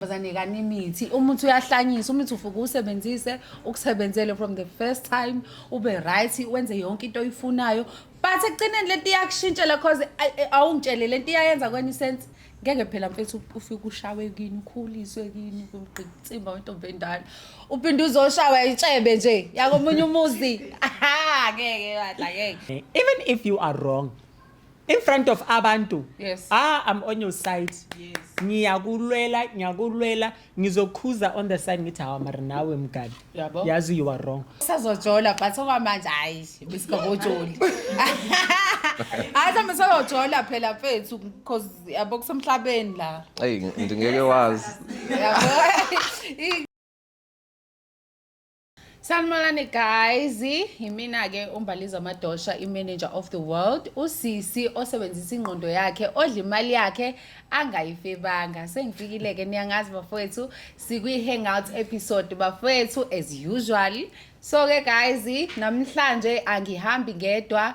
bazanikana imithi umuthi uyahlanyisa umuthi ufuke usebenzise ukusebenzele from the first time ube right wenze yonke into oyifunayo but ekugcineni lento iyakushintshela cause awungitshele lento iyayenza kwenye isense ngeke phela mfethu ufike ushawe kini ukhuliswe kini kugqitsimba wentombi endala uphinde uzoshawa itshebe nje yakomunye umuzi aha ngeke badla ngeke even if you are wrong in front of abantu yes. ah i'm on your side yes. ngiyakulwela ngiyakulwela ngizokhuza on the side ngithi hawa mara nawe mgadi Yabo. yazi you are wrong sazojola but okwamanje hayi besikakojoli hayi sambe sayojola phela mfethu because yabo kusemhlabeni la eyi ndingeke wazi yabo Sanibonani guys, yimina ke uMbaliza Madosha i-manager of the world, usisi osebenzisa ingqondo yakhe, odla imali yakhe angayifebanga. Sengifikile ke niyangazi bafowethu, sikwi hangout episode bafowethu as usual. So ke guys, namhlanje angihambi ngedwa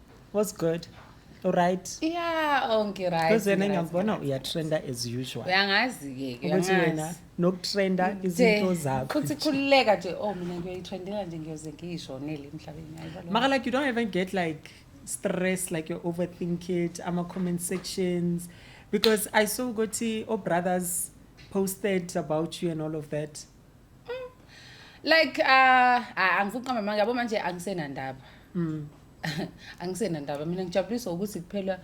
was good right yeah onke right because wena ngiyakubona uyatrenda as usual uyangazi-ke ukuthi wena nokutrenda izinto zakho futhi khululeka nje oh mina ngiyoyitrendela nje ngiyoze ngiyishonele emhlabeni maka like you don't even get like stress like you overthink it ama-comment sections because i saw ukuthi o-brothers posted about you and all of that like uh angifuni qamba manje yabo manje angisenandaba mm. angisenandaba mina ngijabuliswa ukuthi kuphela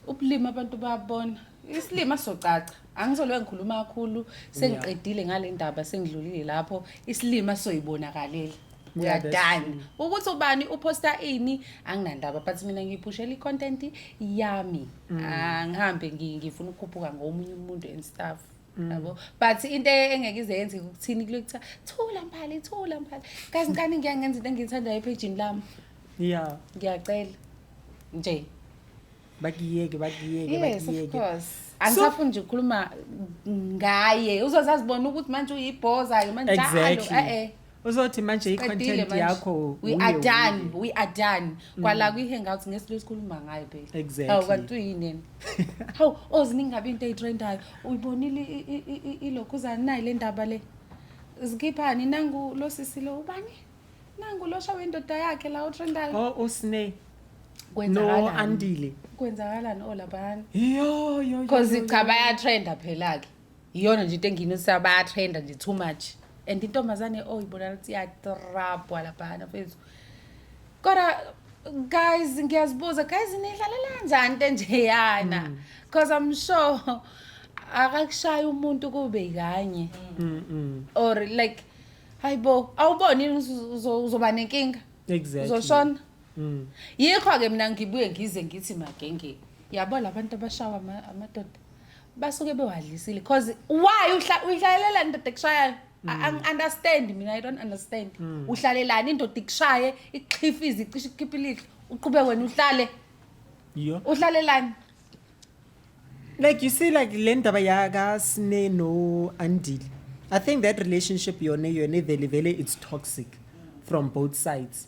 ubulima abantu babona isilima socaca angisolwe ngikhuluma kakhulu sengiqedile ngale ndaba sengidlulile lapho isilima soyibonakalela uyadana ukuthi ubani uphosta ini anginandaba but mina ngiyiphushela i-content yami mm. angihambe ngifuna ukukhuphuka ngomunye umuntu and stuff Mm. yabo but into engeke ize yenzeke ukuthini kulo kuthiwa thula mphali thula mphali kazi ngani ngiya ngenza into engiyithandayo ephejini lami ya ngiyacela nje bakiyeke bakiyeke yes of bakiyeke course angisafuni nje ukukhuluma ngaye uzoze azibona ukuthi manje uyibhoza-ke manje njalo Exactly. e-e uzothi manje i-content yakho we are done we are done mm. kwala kwi-hangout ngesithi lesikhuluma ngayo phela exactly kanti uyinini hawu oziningi ngabe into eyitrendayo uyibonile ilokhuzana nayi le ndaba le zikhiphani nangu lo sisi lo ubani nangu lo shawe indoda yakhe la utrendayo o oh, usne no andile kwenzakalani olaphana oh, yo yo yo because cha bayatrenda phela ke iyona nje into enginisa bayatrenda nje too much and intombazane oh ibona lithi iyatrabhwa laphana fethu kodwa guys ngiyazibuza guys nidlalela njani into enjeyana mm. cause i'm sure akakushaya umuntu kube kanye mm, mm. or like hayibo awuboni uzoba nenkinga exactly uzoshona Mm. yikho-ke mina ngibuye ngize ngithi magenge yabo la bantu abashawa amadoda basuke bewadlisile cause why uyihlalela indoda ekushayayo hmm. angi-understand mina i don't understand hmm. uhlalelani indoda ikushaye ikhiphe izicishe ikhiphe ilihlo uqhube wena uhlale uhlalelani like you see like le ndaba yakasine no-andile i think that relationship yona yona ivele vele it's toxic from both sides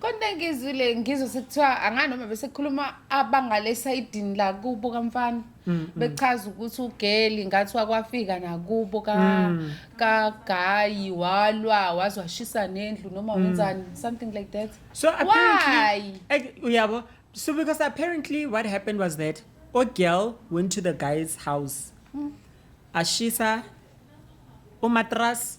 Kodwa ngizwile ngizwe sekuthiwa anganoma bese khuluma abangale sayidini la kubo kamfana mm, mm. bechaza ukuthi ugeli ngathi wakwafika nakubo ka mm. ka gayi walwa wazwashisa nendlu noma wenzani something like that so apparently uyabo so because apparently what happened was that o girl went to the guy's house ashisa umatras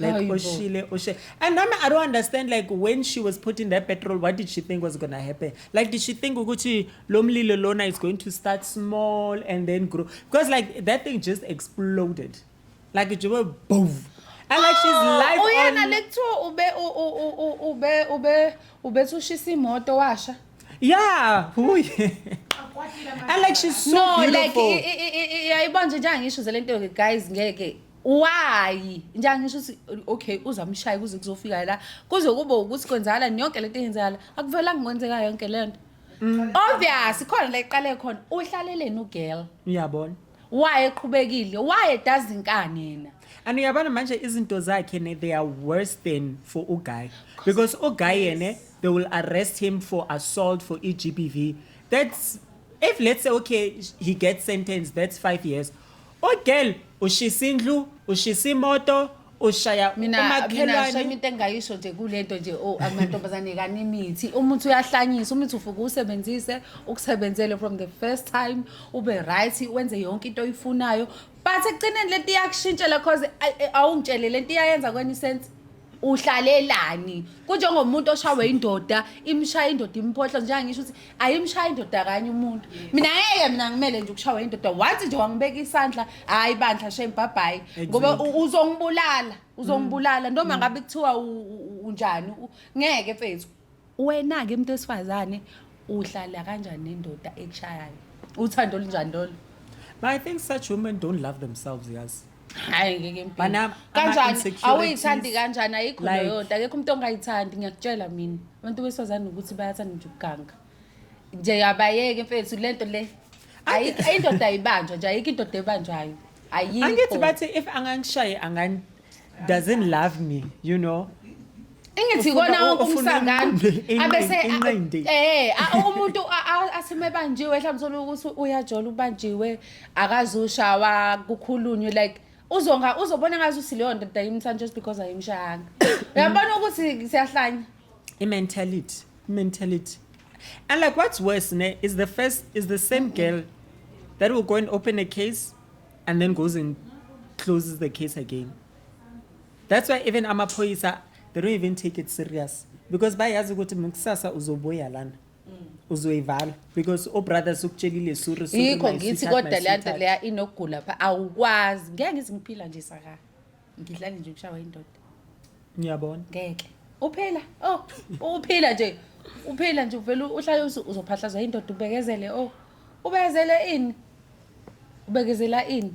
Like Hayi bo. oshile oshile. And nami I don't understand like when she was putting that petrol what did she think was going to happen? Like did she think ukuthi lo mlilo lona is going to start small and then grow because like that thing just exploded. Like it just boom. And like she's Oh, live uyena on lekuthiwa ube u- u- u- u- ube ube ubethi ushisa imoto washa Yeah, who And like she's so no like beautiful. i- i- i- i- yayibona nje njengangisho zale nto-ke guys ngeke why nje angisho ukuthi okay uzamshaya kuze kuzofika la kuze kube ukuthi kwenzakala yonke lento eyenzakala akuvelanga kwenzeka yonke lento mm. obvious khona la iqale khona uhlaleleni ugirl uyabona waye eqhubekile waye dazi inkani yena and uyabona manje izinto zakhe ne they are worse than for uguy because uguy yena they will arrest him for assault for egbv that's if let's say okay he gets sentenced that's five years Ugirl ushisa indlu, ushisa imoto, ushaya mina mina umakhelwane. shame into engayisho nje kulento nje o amantombazane kani imithi umuthi uyahlanyisa umuthi ufuke usebenzise ukusebenzele from the first time ube right wenze yonke into oyifunayo but ekugcineni lento iyakushintshela cause ay- ay- awungitshele lento iyayenza kwenye isense uhlalelani kunjengomuntu oshawe indoda imshaya indoda imphohla njengoba ngisho ukuthi ayimshaya indoda kanye umuntu mina ngeke mina ngimele nje ukushawa indoda once nje wangibeka isandla hayi bandla shem bye bye ngoba u- uzongibulala uzongibulala noma ngabe kuthiwa u- u- unjani u- ngeke mfethu Wena-ke umuntu wesifazane uhlala kanjani nendoda ekushayayo uthando olunjani lolo But I think such women don't love themselves, yes. hayi ngeke impilo. Bana- ama- kanjani insecurities. awuyithandi kanjani ayikho Like- leyo nto akekho umuntu ongayithandi ngiyakutshela mina abantu besifazane ukuthi bayathanda nje ukuganga nje abayeke mfethu le nto le Ayikho- indoda ayibanjwa nje ayikho indoda ebanjwayo ayikho Angithi bathi if angangishaya angan doesn't love me you know engithi kona wonke umsangano abese eh umuntu asime banjiwe mhlawumbe thola ukuthi uyajola ubanjiwe akazushawa kukhulunywe like uzonga uzobona ngathi usileyo ndoda yimthanda just because ayimshayanga uyabona ukuthi siyahlanya i-mentality i-mentality and like what's worse ne is the first is the same girl that will go and open a case and then goes and closes the case again that's why even amaphoyisa they don't even take it serious because bayazi ukuthi mkusasa uzobuya lana uzoyivala because obrothers ukutshelile sure sure yikho my ngithi sweetheart, my kodwa le nto sweetheart. leya inokugula pha awukwazi ngeke ngize ngiphila nje saka ngidlani nje ukushawa indoda ngiyabona ngeke uphila oh uphila nje uphila nje uvele uhlale uzophahlazwa indoda ubekezele oh ubekezele ini ubekezela ini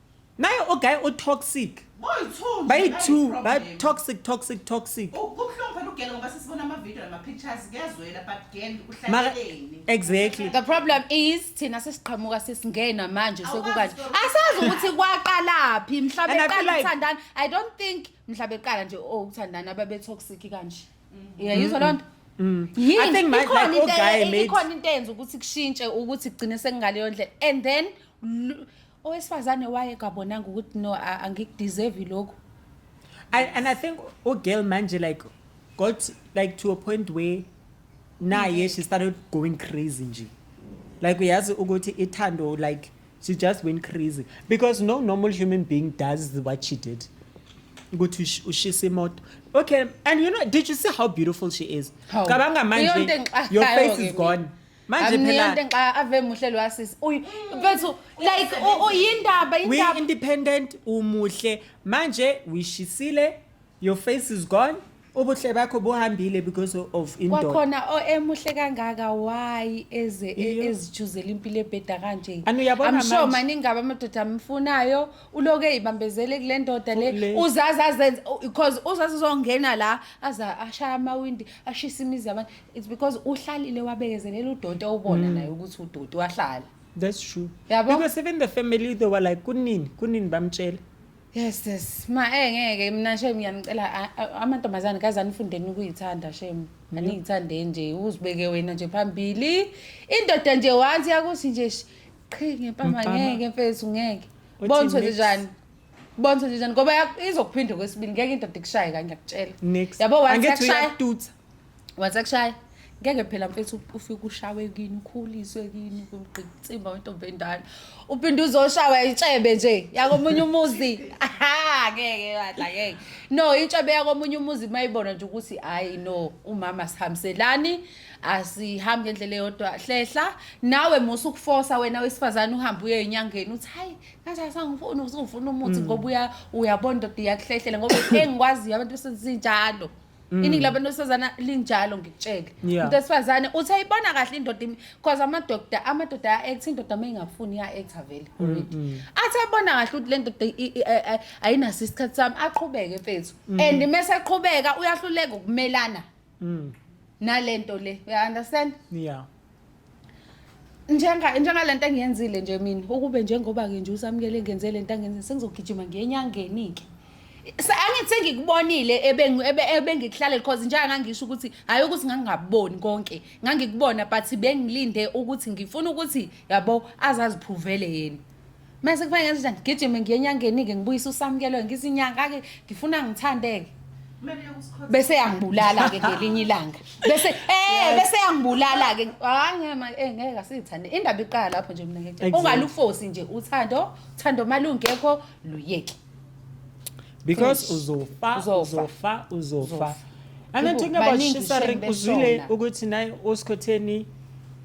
naye ogaye otoxic bayi-two ba-toxic toxic toxic exactly the problem is thina sesiqhamuka sesingena manje sekukanje asazi ukuthi kwaqalaphi mhla beqala ukuthandana i don't think mhla beqala nje o oh, ukuthandana ababetoxic kanje mm-hmm. yayizwa loo nto Mm. I think my, like, oh, guy made... ikhona into enza ukuthi kushintshe ukuthi kugcine sekungaleyo ndlela and then owesifazane waye kabonanga ukuthi no a- angikudeserve lokhu I, and I think oh girl manje like got like to a point where naye she started going crazy nje. Like uyazi ukuthi ithando like she just went crazy because no normal human being does what she did. Ukuthi ush- ushise imoto. Okay, and you know did you see how beautiful she is? Hawu. Cabanga Iyonto manje your engixakayo-ke face is mina. gone. manje phela amniyante nxa ave muhle lo asisi uyu bethu like u- u- yindaba we yindaba independent umuhle manje wishisile your face is gone ubuhle bakho buhambile because of indoda kwakhona o- emuhle kangaka why eze e- Iyo. ezijuzela impilo ebheda kanje Anu, uyabona I'm sure manje. maningi aba amadoda amfunayo uloku eyibambezele kule ndoda le Kule. uzazi azenze because uzazi uzongena la aza ashaya amawindi ashisa imizi yabantu it's because uhlalile wabekezelela udoti owubona naye ukuthi udoti wahlala that's true Yabo? because even the family they were like kunini kunini bamtshela yes yes ma eh ngeke mina shame ngiyanicela a- a- amantombazane kaze anifundeni ukuyithanda shame aniyithande nje uzibeke wena nje phambili indoda nje once yakuthi nje sh- qhi ngempama Mfana. ngeke mfethu ngeke Uthi bonso nje mix. njani bonso nje njani ngoba yak- izokuphinde kwesibili ngeke indoda ikushaye kanye ngiyakutshela next yabo once Angithi yakushaya uyakututsa. Wathi akushaya ngeke phela mfethu ufike ushawe kini ukhuliswe kini kugqitsimba wentombi endala uphinde uzoshawa itshebe nje yakomunye umuzi aha ngeke badla ngeke no itshebe yakomunye umuzi mayibona nje ukuthi hayi no umama sihambiselani asihambi ngendlela eyodwa hlehla nawe musa ukufosa wena wesifazane uhambe uye enyangeni uthi hayi kanjani sangifuna uzungifuna umuthi ngoba uya uyabona ndoda iyakuhlehlela ngoba engikwaziyo abantu besenzinjalo Mm. iningi labantu besifazane linjalo ngikutshele Yeah. umuntu wesifazane uthi ayibona kahle indoda imi- cause amadoda amadoda aya-act indoda uma ingafuni iya-act vele Mm, already athi ayibona kahle ukuthi le ndoda i- i- a- a- ayinaso isikhathi sami aqhubeke mfethu Mm. and uma eseqhubeka uyahluleka ukumelana nale nto le uya-understand yeah njenga njengale nto engiyenzile nje mina ukube njengoba-ke nje usamukele ngenze le nto angenzile sengizogijima ngiyenyangeni-ke angithi sengikubonile ebengikuhlalele because njenga ngangisho ukuthi hhayi ukuthi ngangingaboni konke ngangikubona but bengilinde ukuthi ngifuna ukuthi yabo azaziphuvele yena mase kufanele nje ngigijime ngiye enyangeni-ke ngibuyise usamukelwe ngithi inyanga-ke ngifuna ngithande-ke bese yangibulala-ke ngelinye ilanga bese eh bese yangibulala-ke hayi ngema eh ngeke asithande indaba iqala lapho nje mina ngeke ungalufosi nje uthando uthando malungekho luyeke because uzofa uzofa uzofa and then talking about shisa ring uzwile ukuthi naye osikhotheni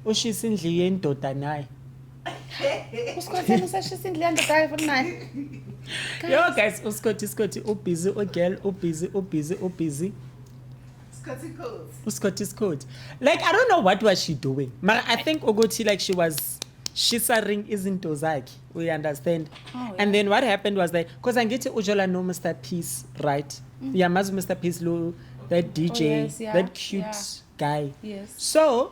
ushisa indlu yendoda naye uskhotheni usashisa indlu yandoda yayo futhi naye yo guys uskhothi iskhothi ubhizi ugirl ubhizi ubhizi ubhizi uskhothi iskhothi like i don't know what was she doing mara i think ukuthi like she was shisaring izinto zakhe we understand oh, yeah. and then what happened was that because angithi ujola no mr peace right mm. uyamazi yeah, mr peace lo that dj oh, yes, yeah, that cute yeah. guy yes. so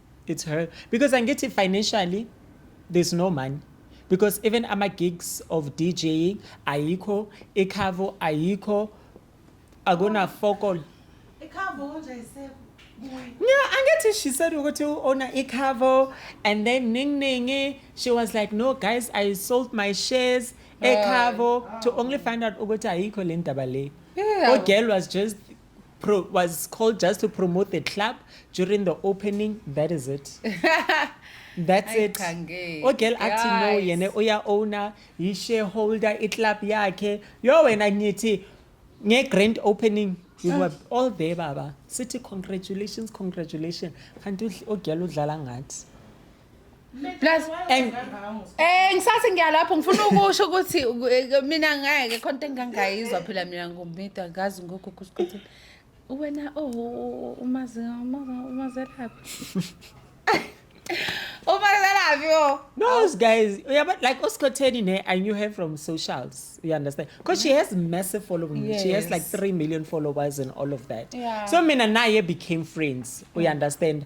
it's her because angithi financially there's no money because even ama gigs of DJing ayikho ikhavo ayikho akuna focal ikhavo nje isekho Yeah, angithi she said ukuthi ona ikhavo and then ning ningi she was like no guys I sold my shares ekhavo to only find out ukuthi ayikho le ndaba le. Yeah. Ogirl was just pro was called just to promote the club during the opening that is it that's Ay, it Khange. ogel athi no Guys. yena uya-owner yi-shareholder iclub yakhe yo wena ngithi nge-grand opening we were all there baba sithi congratulations congratulations kanti udl- ogel udlala ngathi Plus and eh ngisathi ngiyalapho ngifuna ukusho ukuthi eh, mina ngeke konke engangayizwa phela mina ngombida ngazi ngokho ukuthi wena oh umazi umazi laphi umazelaphi yo no guys uyaba like osikhotheni ne i knew her from socials you understand because she has massive following yes. she has like 3 million followers and all of that yeah. so mina naye became friends mm. you understand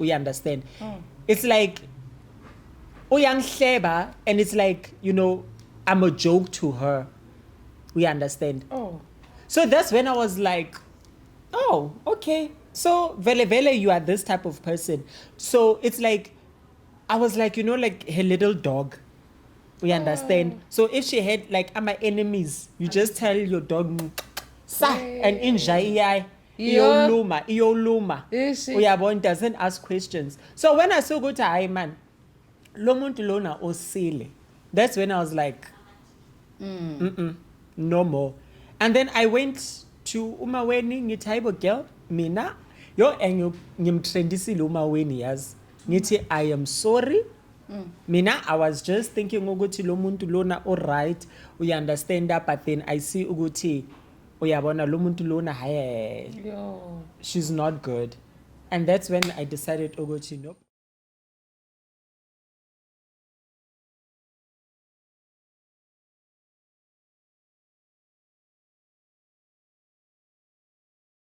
uy understand mm. it's like uyangihleba and it's like you know i'm a joke to her we understand oh so that's when i was like oh okay so vele vele you are this type of person so it's like i was like you know like her little dog we understand oh. so if she had like i'm my enemies you just tell your dog sa and inja iyai iyoluma iyoluma uyabo it doesn't ask questions so when i saw ukuthi hayi man lo muntu lona osile that's when i was like mm. Mm -mm, no more and then i went to umaweni ngithi hayibo girl mina yo ngimtrendisile umaweni yazi ngithi i am sorry mm. mina i was just thinking ukuthi lo muntu lona oright uyaunderstanda but then i see ukuthi uyabona lo muntu lona haye she's not good and that's when i decided ukuthi oh, nope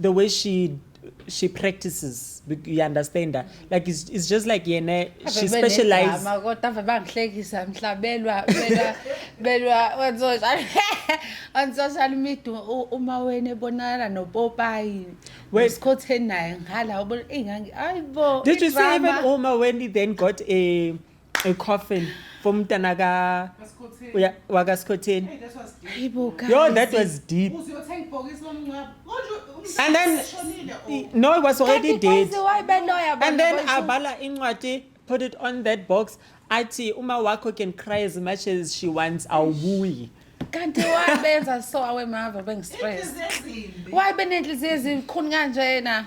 the way she she practices you understand her like it's, it's just like yena she specializes kodwa ave bangihlekisa mhlabelwa belwa belwa on social on social media uma wena ebonakala nopopayi wesikhotheni naye nghala ubona ingangi ayibo did you see even uma when he then got a ecoffin for umntana ka uya- wakaskhotheni Hayi bo guys. yo that was deep uziyothenga ibhokisi lomngcwabo konje And then- umshonile i- o no it was already Kanti dead guys, why beloya and bona then bonke? abhala incwadi put it on that box athi uma wakho can cry as much as she wants awubuyi kanti why benza so awemava bengistress ezimbi why benenhliziyo ezikhuni kanjena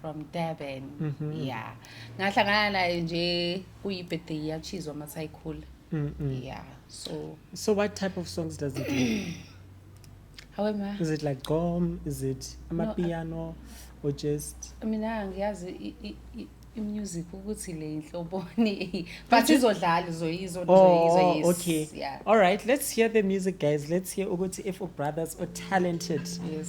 from durban mm -hmm. yeah ngahlangana naye nje kuyi-birthday yachizwa masayikhula mm -mm. yeah so so what type of songs does it do how am i is it like gom is it amapiano no, or just mina ngiyazi imusic ukuthi le inhloboni but izodlala izoyizo oh, okay yeah. all right let's hear the music guys let's hear ukuthi if brothers are talented yes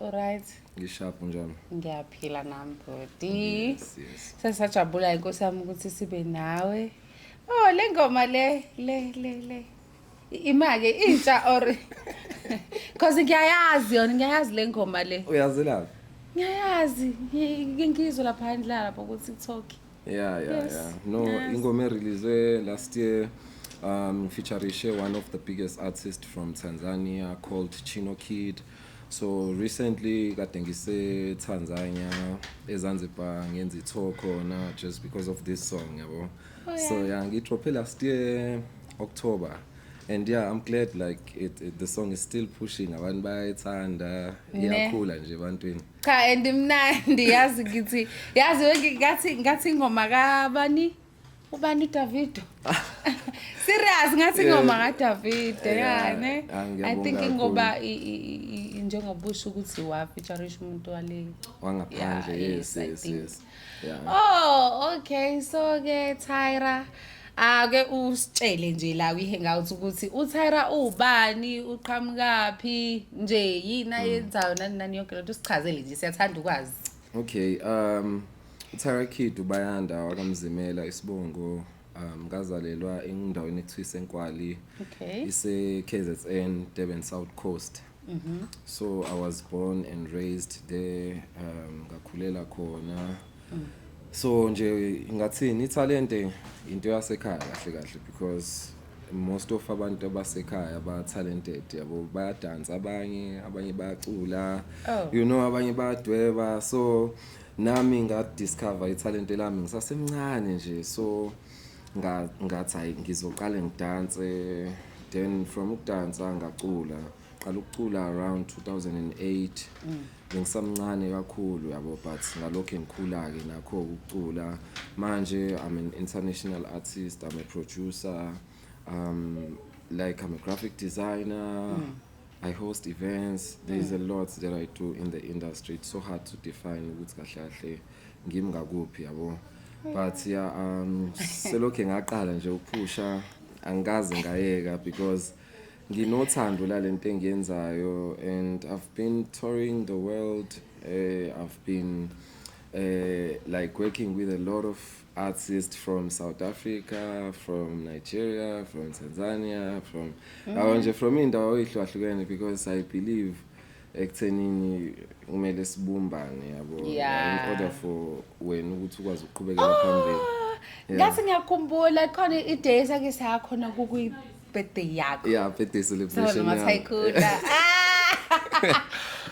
Alright. Ngisharp njalo. Ngiyaphila nami body. Yes, yes. Sesajabula inkosi yami ukuthi sibe nawe. Oh le ngoma le le le le. Imake intsha or Cause ngiyayazi yona ngiyayazi le ngoma le. Uyazelaphi? Ngiyayazi ngingizwe lapha ndlala lapha ukuthi talk. yeah yeah yes. yeah no yes. ingoma erelease last year um featurishe one of the biggest artists from Tanzania called Chino Kid so recently kade ngise Tanzania eZanzibar ngenza itho khona just because of this song yabo oh, yeah. so yeah ngidrope last year October and yeah i'm glad like it, it, the song is still pushing abantu bayayithanda iyakhula nje ebantwini cha and imnandi yazi ngithi yazi ngathi ngathi ingoma kabani ubani uDavido serious ngathi ingoma kaDavido yani ah, i think ngoba njengoba usho ukuthi wafeaturisha umuntu wale wangaphandle yes yes yes yeah. oh okay so ke Tyra ake usitshele nje la kwi-hangout ukuthi utyra uwubani uqhamukaphi nje yini ayenzayo nani nani yonke lento sichazele nje siyathanda ukwazi okay um utyra kid ubayanda wakamzimela isibongo um ngazalelwa endaweni ekuthiwa isenkwali okay. ise-kzn durban south coast Mm -hmm. So I was born and raised there um ngakhulela khona. Mm. So nje ngathini italente into yasekhaya kahle kahle because most of abantu abasekhaya ba talented yabo bayadansa abanye abanye bayacula oh. you know abanye bayadweba so nami nga discover italente lami ngisasemncane nje so ngathi hayi ngizoqale ngidanse then from ukudansa ngacula ngaqala ukucula around 2008 mm. bengisamncane kakhulu yabo but ngalokho engikhula-ke nakho ukucula manje i'm an international artist i'm a producer um like i'm a graphic designer mm. I host events. There is a mm. lot that I do in the industry. It's so hard to define ukuthi kahle kahle ngimi ngakuphi yabo. But yeah, um selokhe ngaqala nje ukuphusha angikaze ngayeka because nginothando lalento engiyenzayo and I've been touring the world. Uh, I've been uh, like working with a lot of artist from South Africa, from Nigeria, from Tanzania, from mm. awo nje from indawo ehlukahlukene because I believe ekuthenini kumele sibumbane yabo yeah. in order for wena ukuthi ukwazi ukuqhubekela oh, phambili ngathi ngiyakhumbula khona idays ake sakhona kukuyi birthday yakho yeah birthday celebration noma thayikhula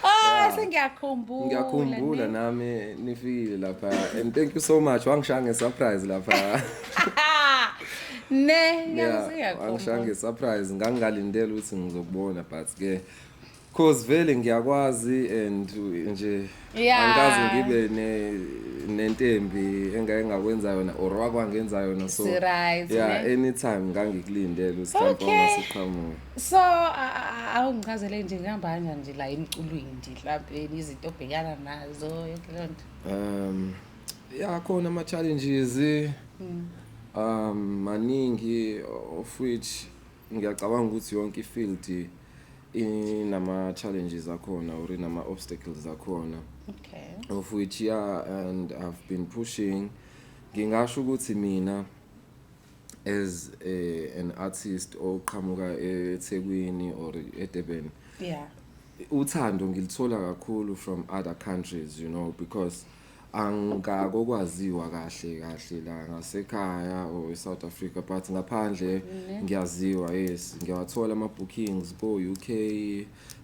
Oh sengiyakhumbula. Ngiyakhumbula nami nifile lapha and thank you so much wangishaya nge surprise lapha. Ne ngiyakuziyakhumbula. Wangishaya nge surprise ngangingalindele ukuthi ngizokubona but ke Cause vele ngiyakwazi and nje Yeah. angikaze ngibe ne nentembi engake ngakwenza yona or wakwangenza yona so Sirise, yeah ne? anytime ngangikulindele usihlamba Okay. ongasiqhamuka so a- a- awungichazele nje ngihamba kanjani nje la emculweni nje mhlawumbe izinto obhekana nazo yonke leyo nto um ya khona ama challenges um maningi of which ngiyacabanga ukuthi yonke ifield inama challenges akhona or inama obstacles akhona okay of which yeah and I've been pushing ngingasho ukuthi mina as a, an artist oqhamuka eThekwini or eDurban yeah uthando ngilithola kakhulu from other countries you know because angakokwaziwa kahle kahle la ngasekhaya or eSouth Africa but ngaphandle ngiyaziwa yes ngiyawathola ama bookings ko UK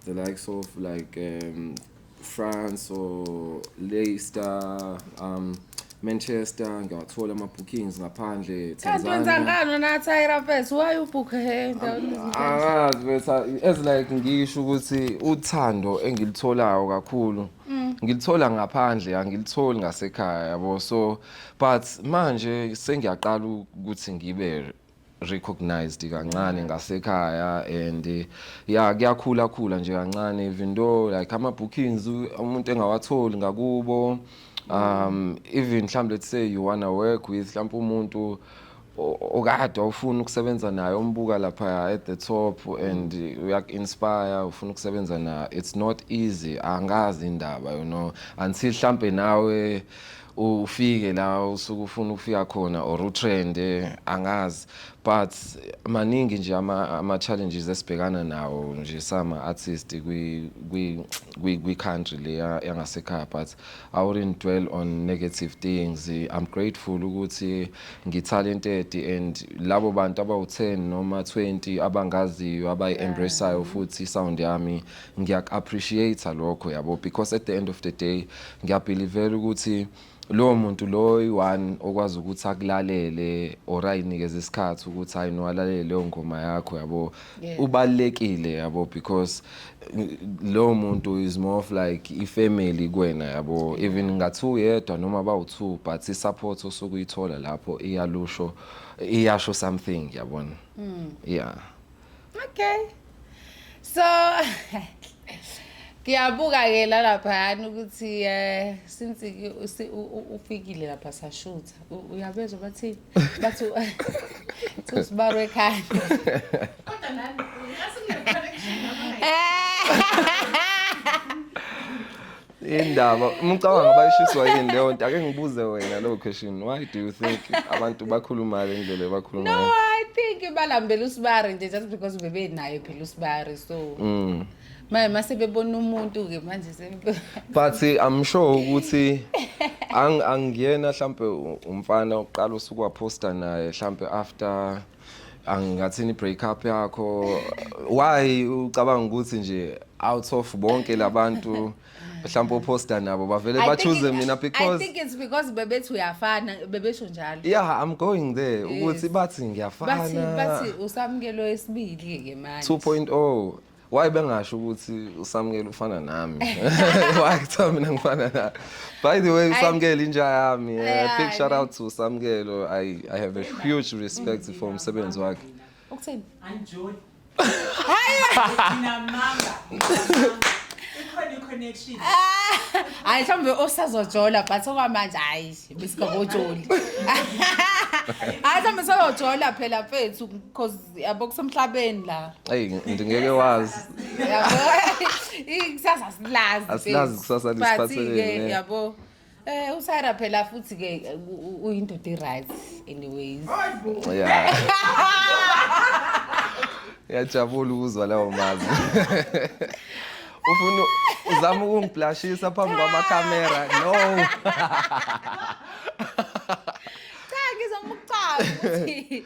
the likes of like um, France or Leicester um Manchester ngiyawathola ama bookings ngaphandle kanti wenza ngani na Tyra Fest why you book her endaweni angazi bese as like ngisho ukuthi uthando engilitholayo kakhulu Mm. ngilithola ngaphandle angilitholi ngasekhaya yabo so but manje sengiyaqala ukuthi ngibe recognized kancane ngasekhaya and eh, ya kuyakhula khula nje kancane even though like ama bookings u- umuntu engawatholi ngakubo um even mhlawumbe let's say you wanna work with mhlawumbe umuntu okade awufuni ukusebenza naye umbuka lapha at the top and uyaku-inspire ufuna ukusebenza naye it's not easy angazi indaba you know until hlampe nawe ufike la usuke ufuna ukufika khona or utrend angazi but maningi nje ama-challenges esibhekana nawo nje sama-artist kwi-country le yangasekhaya but I wouldn't dwell on negative things I'm grateful ukuthi ngitalented and labo bantu abawu-10 noma 20 abangaziyo abayi-embraceayo futhi sound yami ngiyaku-appreciate lokho yabo because at the end of the day ngiyabhilivela ukuthi lowo muntu lowo i-one okwazi ukuthi akulalele or ayinikeze isikhathi ukuthi hayi no alalele leyo ngoma yakho yabo Yeah. ubalekile yabo because uh, lo muntu is more of like ifamily kwena yabo even ngathi uyedwa noma bawu2 but i support osuku uyithola lapho iyalusho iyasho something yabona mm. yeah okay so ngiyabuka ke la lapha yani ukuthi eh since ufikile lapha sashuthi uyabezwa bathi bathi usibaro ekhaya kodwa nani indaba umcabanga bayishiswa yini leyo nto ake ngibuze wena leyo question why do you think abantu bakhuluma le ndlela bakhuluma no i think balambela usibari nje just because bebenayo phela usibari so mm. Manje mase bebona umuntu ke manje sempe. But I'm sure ukuthi ang angiyena mhlambe umfana oqala usuku waposta naye mhlambe after angathini break up yakho why ucabanga ukuthi nje out of bonke labantu mhlawumbe oposta nabo bavele I ba think choose it- mina I because think it's because bebethi uyafana bebesho njalo yeah i'm going there Yes. ukuthi bathi bathi ngiyafana bathi usamukelo esibili ke manje 2.0 oh. why bengasho ukuthi usamukela ufana nami why kuthiwa mina ngifana naye by the way usamukela inja yami eh, Yeah, big shout I out to usamukelo i i have a huge respect for umsebenzi wakhe Ukuthini? Anjoli. Hayi. Ngina manga. Ikhona iconnection. Hayi mhlawumbe osazojola but okwamanje hayi besikabojoli. Hayi mhlawumbe soyojola phela mfethu because yabo kusemhlabeni la. Hey ngeke wazi. Yabo. Ikusasa silazi. Asilazi kusasa lisiphatheleni. Yabo. Eh uSara phela futhi ke uyindoda iright anyways. Yeah. Yajabula ukuzwa lawo mazwi. Ufuna uzama ukungiblashisa phambi kwama camera. No. Cha ngizomucaba ukuthi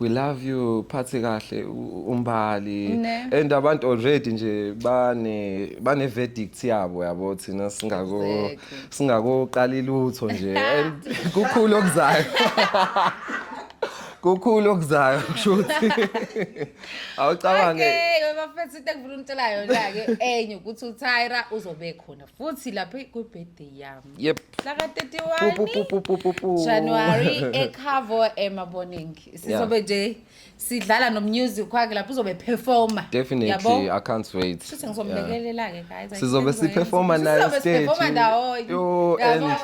we love you phathi kahle umbali ne. and abantu already nje bane bane verdict yabo yabo thina singako exactly. singakoqali lutho nje and kukhulu okuzayo kukhulu okuzayo kusho ukuthi awucabange okay bafethu into engifuna umtshelayo la ke enye ukuthi uTyra uzobe khona futhi lapha ku birthday yami Yep. Mhlaka 31. Pu, pu, pu, pu, pu, pu. January ekhavo emaboning. Sizobe nje sidlala nomusic wakhe lapho uzobe performer. Definitely, Yabo? I can't wait. Shuthi Yeah. ngizomlekelela ke guys. I Sizobe can't wait. siperforma naye Sizobe stage. siperforma ndawonye. Yo, Yabo? and-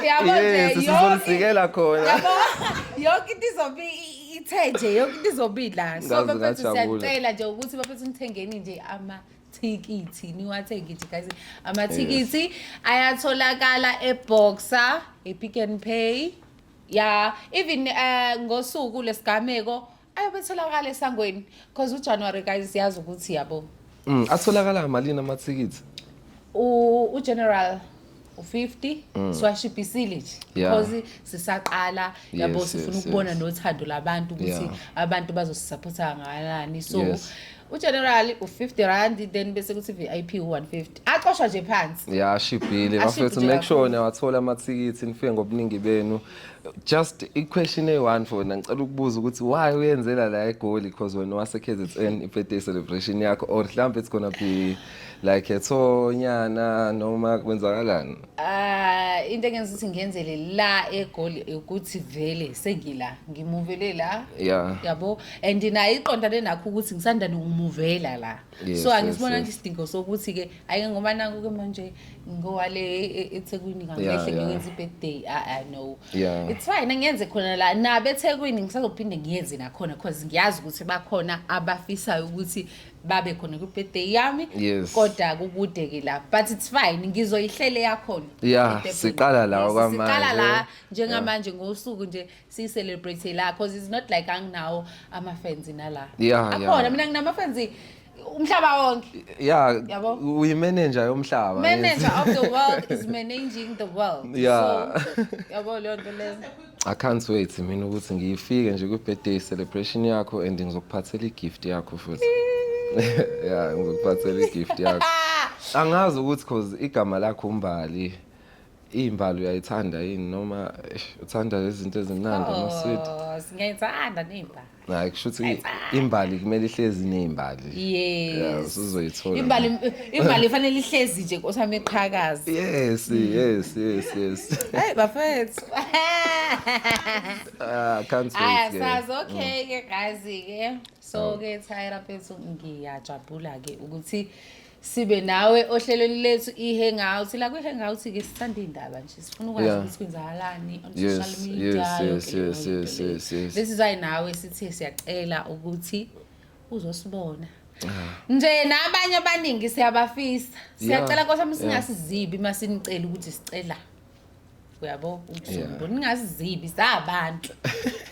Yabo nje, Yes, yonke- sizonisikela khona. yabo, yonke into izobe i- ithe nje yonke into izobila so Ngaze bafethu ngajabula. siyacela nje ukuthi bafethu nithengeni nje amathikithi niwathenge nje guys amathikithi ayatholakala eboxer epick and pay ya even eh, ngosuku lesigameko ayobetholakala esangweni because ujanuary guys siyazi ukuthi yabo Mm, atholakala malini amathikithi U- ugeneral u-50 mm. siwashipisile nje because sisaqala yabo sifuna ukubona nothando labantu ukuthi abantu bazosisaphotha ngalani so ugeneral u-50 rand then bese kuthi vip u-150 acoshwa nje phansi ya ashibhile bafethu make sure niyawathola amathikithi nifike ngobuningi benu just i-question eyi-one for wena ngicela ukubuza ukuthi why uyenzela la egoli because wena wase-kzn i-birthday celebration yakho or mhlawumbe it's gonna be like ethonyana noma kwenzakalani Ah, into engenza ukuthi ngenzele la egoli ukuthi vele sengila ngimuvele la Yeah. yabo and naye iqondane nakho ukuthi ngisanda nokumuvela la Yes, so yes, angisibona yes. nje isidingo sokuthi ke ayike ngoba naku ke manje ngowale e- e- ethekwini Yeah, ngangehle yeah. ngiyokwenza i-birthday ah ah, no Yeah. it's fine ngiyenze khona la nabe ethekwini ngisazophinde ngiyenze nakhona because ngiyazi ukuthi bakhona abafisayo ukuthi babe khona kwi-birthday yami Yes. kodwa kukude ke la but it's fine ngizoyihlele yakhona Yeah, Birthday siqala party. la Yes, okwamanje. siqala la njengamanje ngosuku nje siyi-celebrate la because it's not like anginawo ama-fans nala Yeah, akhona yeah. mina nginama-fans umhlaba wonke ya Yabo. uyimenenja yomhlaba manager of the world is managing the world Yeah. so yabo leyo nto leyo I can't wait mina ukuthi ngifike nje kwi-birthday celebration yakho and ngizokuphathela i-gift yakho futhi. Yeah, ngizokuphathela i-gift yakho. Angazi ukuthi cause igama lakho uMbali imbali uyayithanda yini noma eish, uthanda izinto ezimnandi ama-sweet. Oh, singayithanda ney'mbali. Hayi kushuthi imbali kumele ihlezi nezimbali. Yes. Uzoyithola. Imbali imbali ifanele ihlezi nje nkosami eqhakaza. Yes, yes, yes, yes. Hey bafethu. Ah, can't wait. Aya sazi okay ke guys ke. So ke Tyra Pethu ngiyajabula ke ukuthi sibe nawe ohlelweni lethu i-hangout la kwi-hangout-ke sithanda iy'ndaba nje sifuna ukwazi Yeah. ukuthi kwenzakalani on Yes, social media yes, yonke yes, leyo yes, nto yes, leyo. yes, yes. This is why nawe sithe siyacela ukuthi uzosibona nje nabanye abaningi siyabafisa siyacela nkosi yami Yeah. singasizibi uma sinicela ukuthi sicela uyabo ukuzumbu ningazizibi sabantu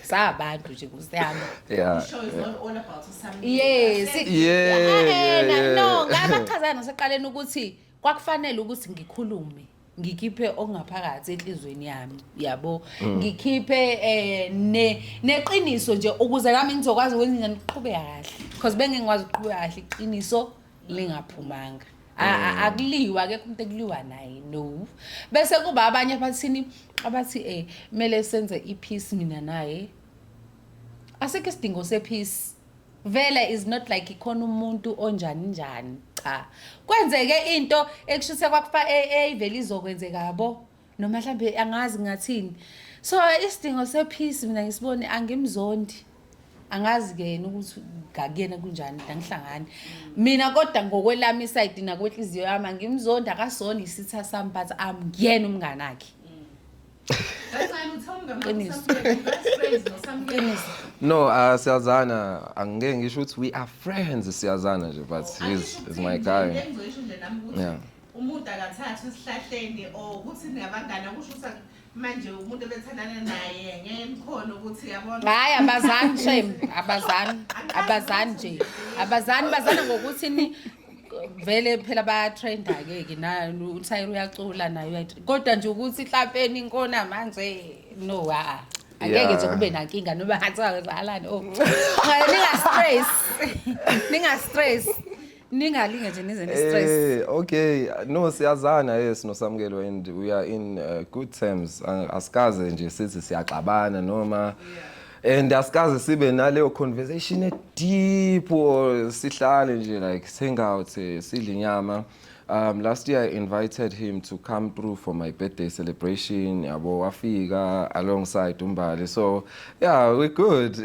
sabantu nje kusiyami yeah show is not all about something yes yeah no ngabachazana seqaleni ukuthi kwakufanele ukuthi ngikhulume ngikhiphe okungaphakathi enhlizweni yami yabo mm. ngikhiphe eh ne neqiniso nje ukuze nami ngizokwazi ukwenza ngiqhube kahle because bengingikwazi ukuqhube kahle iqiniso lingaphumanga A- a- Mm. akuliwa akekho umuntu ekuliwa naye no bese kuba abanye abathini abathi eh kumele senze ipeace mina naye asikho isidingo sepeace vele is not like ikhona umuntu onjani njani cha kwenzeke into ekushise kwakufa eyivele izokwenzeka yabo noma mhlambe angazi ngathini so isidingo sepeace mina ngisibone angimzondi angazi ke yena ukuthi ngakuyena kunjani angihlangani mina kodwa ngokwelami isayidi nakwenhliziyo yami angimzondi akasona isitha sami but amngiyena umngani akhe no uh, siyazana angeke ngisho ukuthi we are friends siyazana nje but he's, he's my guy yeah. Umuntu akathathwe esihlahleni or ukuthi niyabangana kusho ukuthi manje umuntu ebethandana naye ngeke nikhona ukuthi yabona. Hayi abazani shame, abazani, abazani nje. Abazani bazana ngokuthi ni vele phela bayatrenda ke ke na uthayira uyacula nayo kodwa nje ukuthi hlapeni inkona manje no ha ah, ah. angeke nje kube nankinga noba hathiwa zalani oh ninga stress ninga stress ningalinge nje nize ne-stress Eh, okay no siyazana yes nosamukelo and we are in uh, good terms Ang- asikaze nje sithi siyaxabana noma and asikaze sibe naleyo conversation deep or sihlale nje like singawuthi sidle inyama Um, last year I invited him to come through for my birthday celebration. Yabo wafika alongside uMbali. So yeah, we good.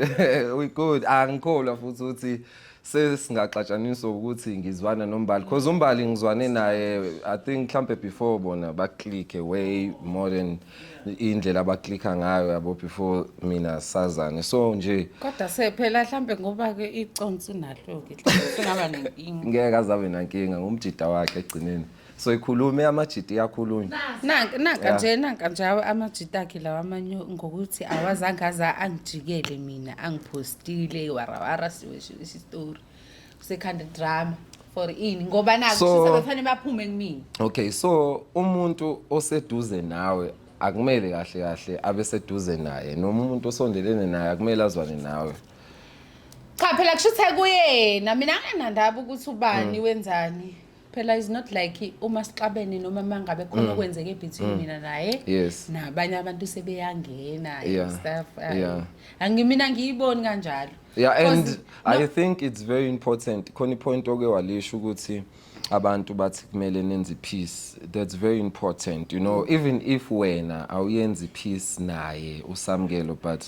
we good. Angikholwa futhi ukuthi sesingaxatshaniswa ukuthi ngizwana nombali because umbali ngizwane naye i think mhlampe before bona baclicke way more than indlela abaclicka ngayo yabo before mina sazane so nje kodwa sephela mhlampe ngoba ke iconsi nalo ke singaba nenkinga ngeke azabe nankinga ngumjida wakhe egcineni so ikhulume amajiti iyakhulunywa Nanka nanka Yeah. nje nanka nje awa- amajita akhe lawa amanye ngokuthi awazange aza angijikele mina angipostile iwarawara siwe siwe story sekhanda drama for ini ngoba naku So- so, sebefanele baphume kumina okay so umuntu oseduze nawe akumele kahle kahle abe seduze naye noma umuntu osondelene naye akumele azwane nawe cha phela kusho ukuthi akuyena mina anginandaba ukuthi ubani wenzani phela is not like uma sixabene noma mangabe khona mm. okwenzeke between mm. mina naye yes nabanye abantu sebeyangena yeah. stuff uh, yeah. angimina ngiyiboni kanjalo yeah and no, i think it's very important khona ipoint oke walisho ukuthi abantu bathi kumele nenze peace that's very important you know mm. even if wena awuyenzi peace naye usamkelo but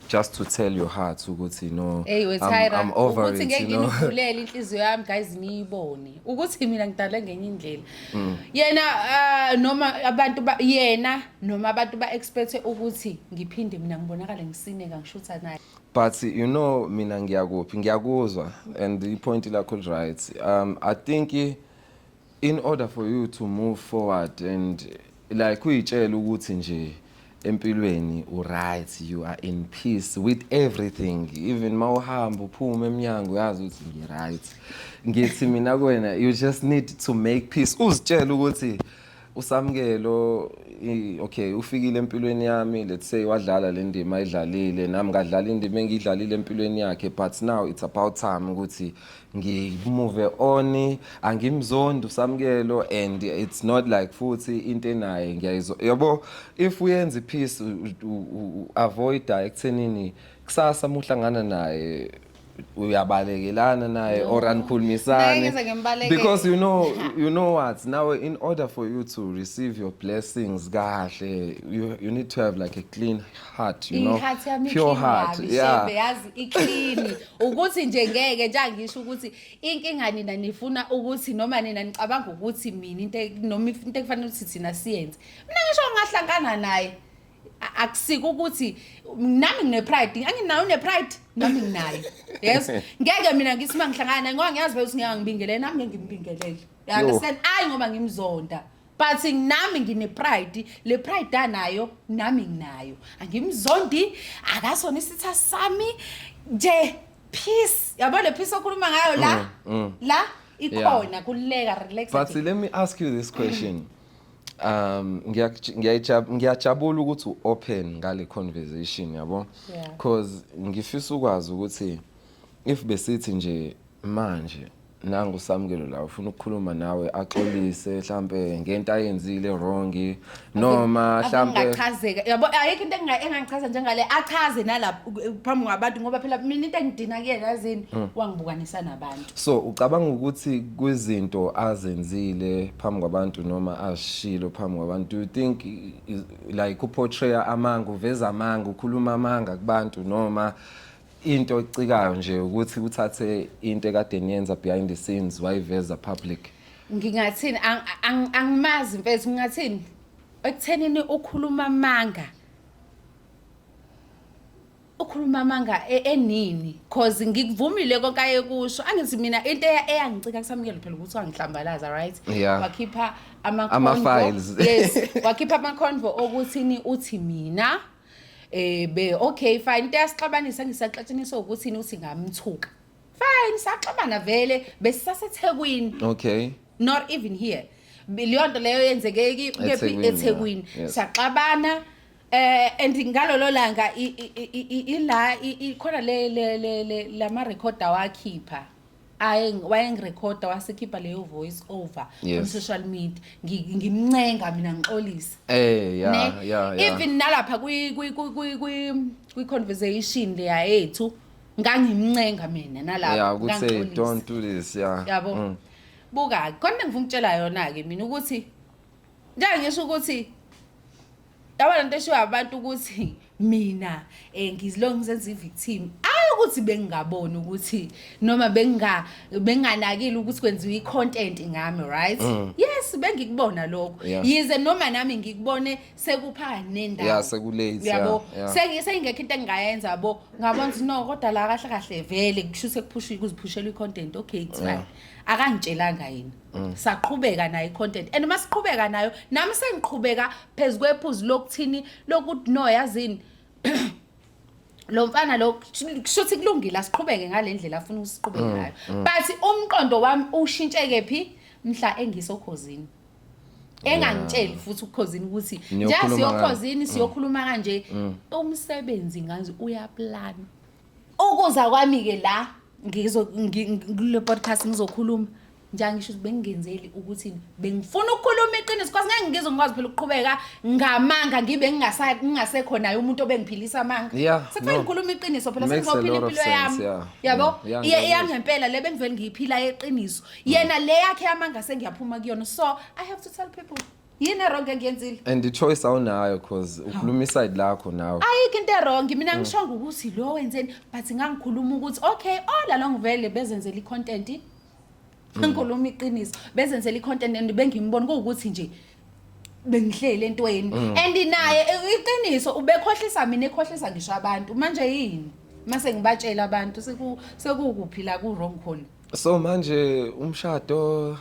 just to tell your heart ukuthi no hey we Tyra I'm, I'm over ukuthi it, ngeke you know? ngivulele inhliziyo yami guys niyibone ukuthi mina ngidale ngenye indlela mm. yena uh, noma abantu ba, yena noma abantu ba expect ukuthi ngiphinde mina ngibonakale ngisineka ngishutha naye but you know mina ngiyakuphi ngiyakuzwa and i point lakho right um i think in order for you to move forward and like uyitshela ukuthi nje empilweni uright you are in peace with everything even ma uhamba uphuma emnyango uyazi ukuthi ngiright ngithi mina kwena you just need to make peace uzitshela ukuthi usamkelo okay ufikile empilweni yami let's say wadlala le ndima ayidlalile nami ngadlala indima engiyidlalile empilweni yakhe but now it's about time ukuthi ngimove on angimzondi usamkelo and it's not like futhi into enaye ngiyayizwa yabo if uyenza ipeace avoid ekuthenini kusasa muhlangana naye uyabalekelana naye no. or anikhulumisani because you know you know what now in order for you to receive your blessings kahle you, you need to have like a clean heart you know iheart yami pure heart yeah yazi iclean ukuthi nje ngeke nje angisho ukuthi inkinga nina nifuna ukuthi noma nina nicabanga ukuthi mina into e-, noma into ekufanele ukuthi thina siyenze mina ngisho ngahlangana naye akusiko ukuthi nami ngine pride anginayo ne pride nami nginayo yes ngeke mina ngithi mangihlangana ngoba ngiyazi ukuthi ngeke ngibingelele nami ngeke ngimbingelele you understand ayi ngoba ngimzonda but nami ngine-pride le pride anayo nami nginayo angimzondi akasona isitha sami nje peace yabo le peace okhuluma ngayo la mm, mm. la ikhona yeah. kuleka relax but let me ask you this question um ngiyajabula ukuthi u-open ngale conversation yabo because ngifisa ukwazi ukuthi if besithi nje manje nangu uSamkelo la ufuna ukukhuluma nawe axolise mhlambe ngento ayenzile wrong noma mhlambe ngachazeka yabo ayikho into engangichaza njengale achaze nalapha phambi kwabantu ngoba phela mina into engidina kuyena yazini mm. wangibukanisa nabantu so ucabanga ukuthi kwizinto azenzile phambi kwabantu noma ashilo phambi kwabantu you think like uportrayer amanga uveza amanga ukhuluma amanga kubantu noma into ecikayo nje ukuthi uthathe into ekade niyenza behind the scenes wayiveza public ngingathini ang- ang- angimazi mfethu ngingathini ekuthenini ukhuluma amanga ukhuluma amanga e- enini cause ngikuvumile konke ayekusho angithi mina into eya- eyangicika kusamukela phela ukuthi wangihlambalaza right Yeah. wakhipha ama-convo. Ama-files. yes wakhipha ama-convo okuthini uthi mina Eh be okay fine into yasixabanisa ngisaxatshaniswa ukuthi uthi ngamthuka. Fine saxabana vele besisaseThekwini Okay. not even here. Bi- Leyo nto leyo yenzeke ki- kephi EThekwini, eThekwini. yeah, yes. Saxabana eh and ngalolo langa i- i- i- i- ila i- i- khona le le le- le lama record awakhipha. aye wayengirekhoda wasekhipha leyo voice over yes. on social media ngimncenga mina ngixolise eh ya ya even nalapha kwi kwi kwi kwi kwi conversation leya yethu ngangimncenga mina nalapha yeah ukuthi don't do this yeah yabo mm. buka khona ngifuna ukutshela yona ke mina ukuthi Njengoba ngisho ukuthi yabona into eshiwo abantu ukuthi mina eh ngizilonga ngizenza i-victim ayi ukuthi bengingaboni ukuthi noma benginga benginganakile ukuthi kwenziwa i-content ngami right mm. yes bengikubona lokho yize noma nami ngikubone sekupha nendawo yeah sekulate yabo sengise ingekho into engingayenza yabo ngabona ukuthi no kodwa la kahle kahle vele kusho sekuphushwa kuziphushela i-content okay it's fine akangitshelanga yini Mm. saqhubeka nayo icontent and uma siqhubeka nayo nami sengiqhubeka phezu kwephuzu lokuthini lokuthi no yazini lo mfana lo kushuthi kulungile asiqhubeke ngale ndlela afuna ukusiqhubeka mm, ngayo mm. but umqondo wami ushintsheke phi mhla engisokhozini engangitsheli futhi ukukhozini ukuthi nje siyokhozini siyokhuluma kanje umsebenzi ngazi uyaplana Ukuza kwami-ke la ngizo kule podcast ngizokhuluma njalo ngisho ukuthi bengingenzeli ukuthi bengifuna ukukhuluma iqiniso kwazi ngeke ngizwe ngikwazi phela ukuqhubeka ngamanga ngibe ngingasekho naye umuntu obengiphilisa amanga sekufanele ngikhuluma iqiniso phela sengizophila impilo yami yabo iyangempela le bengivele ngiyiphila yeqiniso yena le yakhe yamanga sengiyaphuma kuyona so i have to tell people yini eronge engiyenzile and i-choice awunayo cause ukhuluma iside lakho nawe ayikho into erongi mina mm. ngishonga ukuthi lo wenzeni but ngangikhuluma ukuthi okay all along vele bezenzela i-content mm. ngikhuluma iqiniso bezenzela i-content and bengimbona kuwukuthi nje bengihlele entweni mm. and naye eh, iqiniso ubekhohlisa mina ekhohlisa ngisho abantu manje yini mase ngibatshela abantu seku sekukuphila ku wrong khona so manje umshado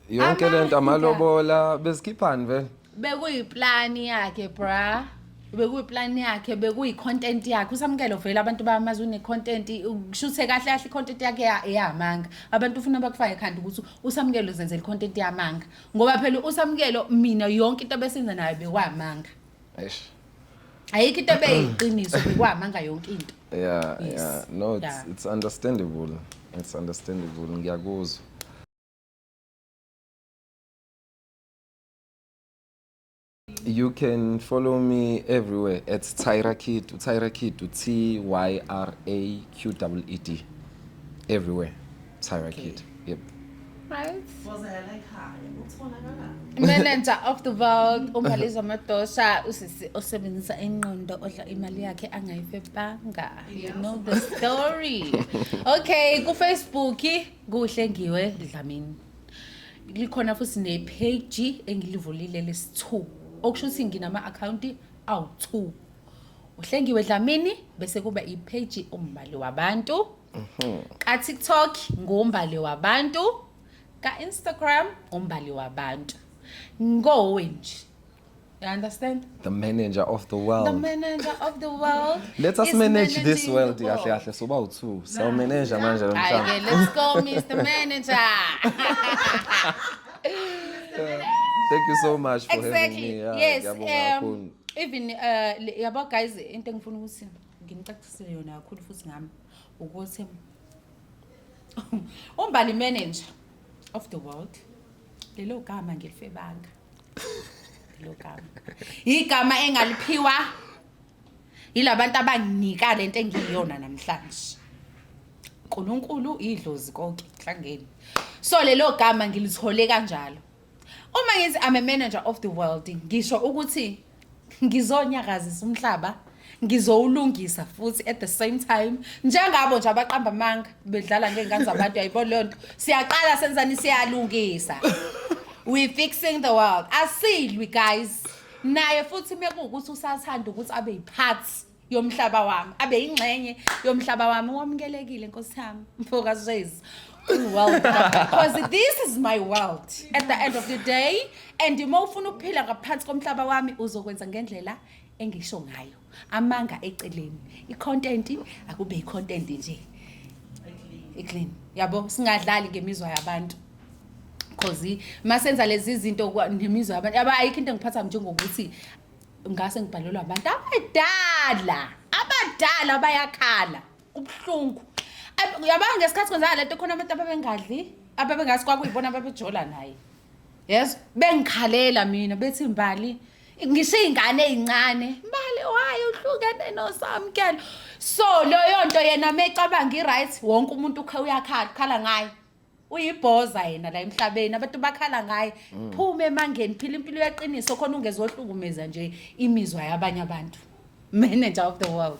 yonke le nto amalobola bezikhiphani vele bekuyiplani yakhe bra bekuyiplani yakhe bekuyi-content yakhe usamukelo vele abantu bamazi une-content kushuthe kahle kahle i-content yakhe ya- eyamanga abantu ufuna bakufake ekhanda ukuthi usamukelo zenzela i-content yamanga ngoba phela usamukelo mina yonke into besenza nayo bekwamanga eish ayikho into ebeyiqiniso bekwamanga yonke into yeah Yes. yeah no it's, Yeah. it's understandable it's understandable ngiyakuzwa You can follow me everywhere at Tyra Kid, Tyra Kid, T Y R A Q W E D. Everywhere. Tyra okay. Kid. Yep. Right. Manager of the world uMaliza Madosha usisi osebenzisa ingqondo odla imali yakhe angayifebanga. You know the story. Okay, ku Facebook Kuhle ngiwe Dlamini. Likhona futhi ne page engilivulile lesi2. Okusho ukuthi nginama account awu2. Uhlengiwe Dlamini bese kuba i page umbali wabantu. Mhm. Ka TikTok ngombali wabantu. Ka Instagram ngombali wabantu. Ngowe nje. You understand? The manager of the world. The manager of the world. Let us manage this world. Kahle kahle so bawu two. So manager manje lo mfana. Let's go Mr. Manager. Thank you so much for exactly. having me. Yeah, yes. Um, even uh yabo guys into engifuna ukuthi nginicacisele yona kakhulu futhi ngami ukuthi umbali manager of the world lelo gama ngilifebanga logama igama engaliphiwa yilabantu abanginika lento engiyiyona namhlanje uNkulunkulu idlozi konke hlangeni so lelo gama ngilithole kanjalo uma ngithi i'm a manager of the world ngisho ukuthi ngizonyakazisa umhlaba ngizowulungisa futhi at the same time njengabo nje abaqamba amanga bedlala ngey'ngane zabantu yayibona leyo nto siyaqala senzani siyalungisa we fixing the world asilwi guys naye futhi mekuwukuthi usathanda ukuthi abe yiphathi yomhlaba wami abe yingxenye yomhlaba wami wamukelekile nkosi yami mfoka Zwezi world because this is my world at the end of the day and uma ufuna ukuphila ngaphansi komhlaba wami uzokwenza ngendlela engisho ngayo amanga eceleni icontent akube icontent nje eclean yabo singadlali ngemizwa yabantu because masenza lezi zinto nemizwa yabantu yaba ayikho into engiphatha njengokuthi ngase ngibhalelwa abantu abadala abadala bayakhala kubuhlungu yabanga ngesikhathi kwenzaka lento khona abantu ababengadli ababengazi kwakuyibona ababejola naye yes bengikhalela mina bethi mbali ngisho iy'ngane ey'ncane mbali wayo uhlukene nosamkelo so leyo nto yena mecabanga i-right wonke umuntu uyakhala ngayo uyibhoza yena la emhlabeni abantu bakhala ngaye mm. phuma emangeni phila impilo yaqiniso khona ungezohlukumeza nje imizwa yabanye abantu manager of the world